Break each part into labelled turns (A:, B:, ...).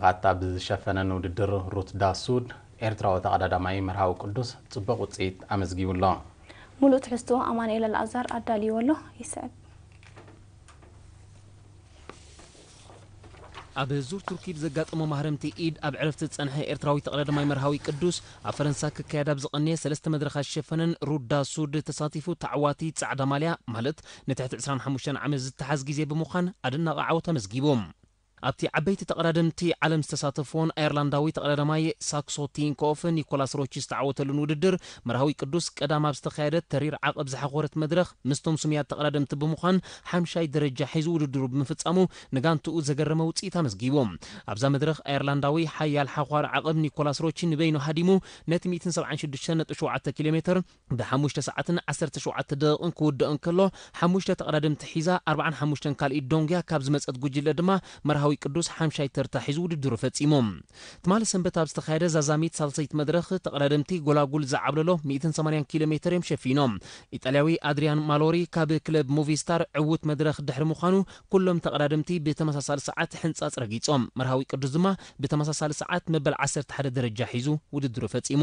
A: ኣታ ብዝሸፈነ ንውድድር ሩት ዳሱድ ኤርትራዊ ተቐዳዳማይ መርሃዊ ቅዱስ ጽቡቕ ውጽኢት ኣመዝጊቡ ኣሎ። ሙሉእ ትሕዝትኡ
B: ኣማኑኤል ኣልኣዛር ኣዳልይዎ ኣሎ ይስዕብ።
C: ኣብ ዙር ቱርኪ ብዘጋጠሞ ማህረምቲ ኢድ ኣብ ዕረፍቲ ዝጸንሐ ኤርትራዊ ተቐዳዳማይ መርሃዊ ቅዱስ፣ ኣብ ፈረንሳ ክካየድ ኣብ ዝቐነየ ሰለስተ መድረኻት ዝሸፈነን ሩት ዳሱድ ተሳቲፉ ተዓዋቲ ጻዕዳ ማልያ ማለት ንትሕቲ ዕስራን ሓሙሽተን ዓመት ዝተሓዝ ግዜ ብምዃን ኣደናቒ ዓወት ኣመዝጊቡ። ኣብቲ ዓበይቲ ተቐዳደምቲ ዓለም ዝተሳተፍዎን ኣየርላንዳዊ ተቐዳዳማይ ሳክሶ ቲንኮፍ ኒኮላስ ሮቺ ዝተዓወተሉን ውድድር መርሃዊ ቅዱስ ቀዳም ኣብ ዝተኻየደ ተሪር ዓቐብ ዝሓኾረት መድረኽ ምስቶም ስሙያት ተቐዳደምቲ ብምዃን ሓምሻይ ደረጃ ሒዙ ውድድሩ ብምፍጻሙ ንጋንትኡ ዘገረመ ውጽኢት ኣመዝጊቡ። ኣብዛ መድረኽ ኣየርላንዳዊ ሓያል ሓዃሪ ዓቐብ ኒኮላስ ሮቺ ንበይኑ ሃዲሙ ነቲ ሚእትን ሰብዓን ሽዱሽተን ነጥቢ ሸውዓተ ኪሎሜተር ብ ሓሙሽተ ሰዓትን ዓሰርተ ሸውዓተ ደቒቕን ክውዳእ እንከሎ፣ ሓሙሽተ ተቐዳደምቲ ሒዛ ኣርብዓን ሓሙሽተን ካልኢት ዶንግያ ካብ ዝመጸት ጉጅለ ድማ መርሃዊ ቅዱስ ሓምሻይ ተርታ ሒዙ ውድድሩ ፈጺሙ። ትማሊ ሰንበት ኣብ ዝተኻየደ ዛዛሚት ሳልሰይቲ መድረኽ፣ ተቐዳደምቲ ጎላጉል ዝዓብለሎ ሚእትን ሰማንያን ኪሎ ሜተር እዮም ሸፊኖም። ኢጣልያዊ ኣድርያን ማሎሪ ካብ ክለብ ሞቪስታር ዕዉት መድረኽ ድሕሪ ምዃኑ ኩሎም ተቐዳደምቲ ብተመሳሳሊ ሰዓት ሕንጻጽ ረጊጾም። መርሃዊ ቅዱስ ድማ ብተመሳሳሊ ሰዓት መበል ዓሰርተ ሓደ ደረጃ ሒዙ ውድድሩ ፈጺሙ።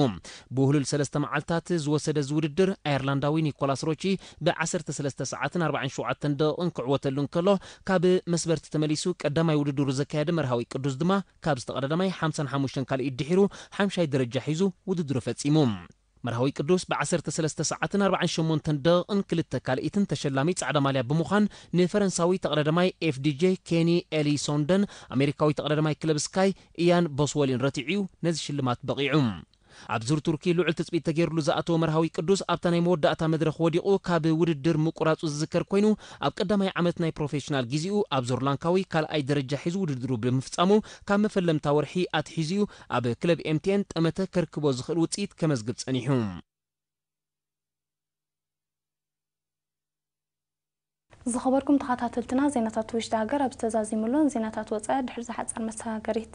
C: ብውህሉል ሰለስተ መዓልታት ዝወሰደ እዚ ውድድር፣ ኣየርላንዳዊ ኒኮላስ ሮቺ ብ ዓሰርተ ሰለስተ ሰዓትን ኣርባዕን ሸውዓተን ደቒቕን ክዕወተሉ እንከሎ፣ ካብ መስበርቲ ተመሊሱ ቀዳማይ ውድድሩ ዘካየደ መርሃዊ ቅዱስ ድማ ካብዚ ተቐዳዳማይ ሓምሳን ሓሙሽተን ካልኢት ድሒሩ ሓምሻይ ደረጃ ሒዙ ውድድሩ ፈጺሙ። መርሃዊ ቅዱስ ብ ዓሰርተ ሰለስተ ሰዓትን ኣርባዕን ሸሞንተን ደቒቕን ክልተ ካልኢትን ተሸላሚ ጻዕዳ ማልያ ብምዃን ንፈረንሳዊ ተቐዳዳማይ FDJ ኬኒ ኤሊሶንደን ኣሜሪካዊ ተቐዳዳማይ ክለብ ስካይ ኢያን ቦስወሊን ረቲዑ'ዩ ነዚ ሽልማት በቒዑ። ኣብ ዙር ቱርኪ ልዑል ትጽቢት ተገይርሉ ዝኣተወ መርሃዊ ቅዱስ ኣብታ ናይ መወዳእታ መድረኽ ወዲቑ ካብ ውድድር ምቁራጹ ዝዝከር ኮይኑ ኣብ ቀዳማይ ዓመት ናይ ፕሮፌሽናል ግዜኡ ኣብ ዙር ላንካዊ ካልኣይ ደረጃ ሒዙ ውድድሩ ብምፍጻሙ ካብ መፈለምታ ወርሒ ኣትሒዙ'ዩ ኣብ ክለብ ኤምቴን ጠመተ ከርክቦ ዝኽእል ውጽኢት ከመዝግብ ጸኒሑ።
B: ዝኸበርኩም ተኻታተልትና ዜናታት ውሽጢ ሃገር ኣብዚ ተዛዚሙ ኣሎ። ንዜናታት ወጻኢ ድሕሪ'ዛ ሓጻር መሰጋገሪት።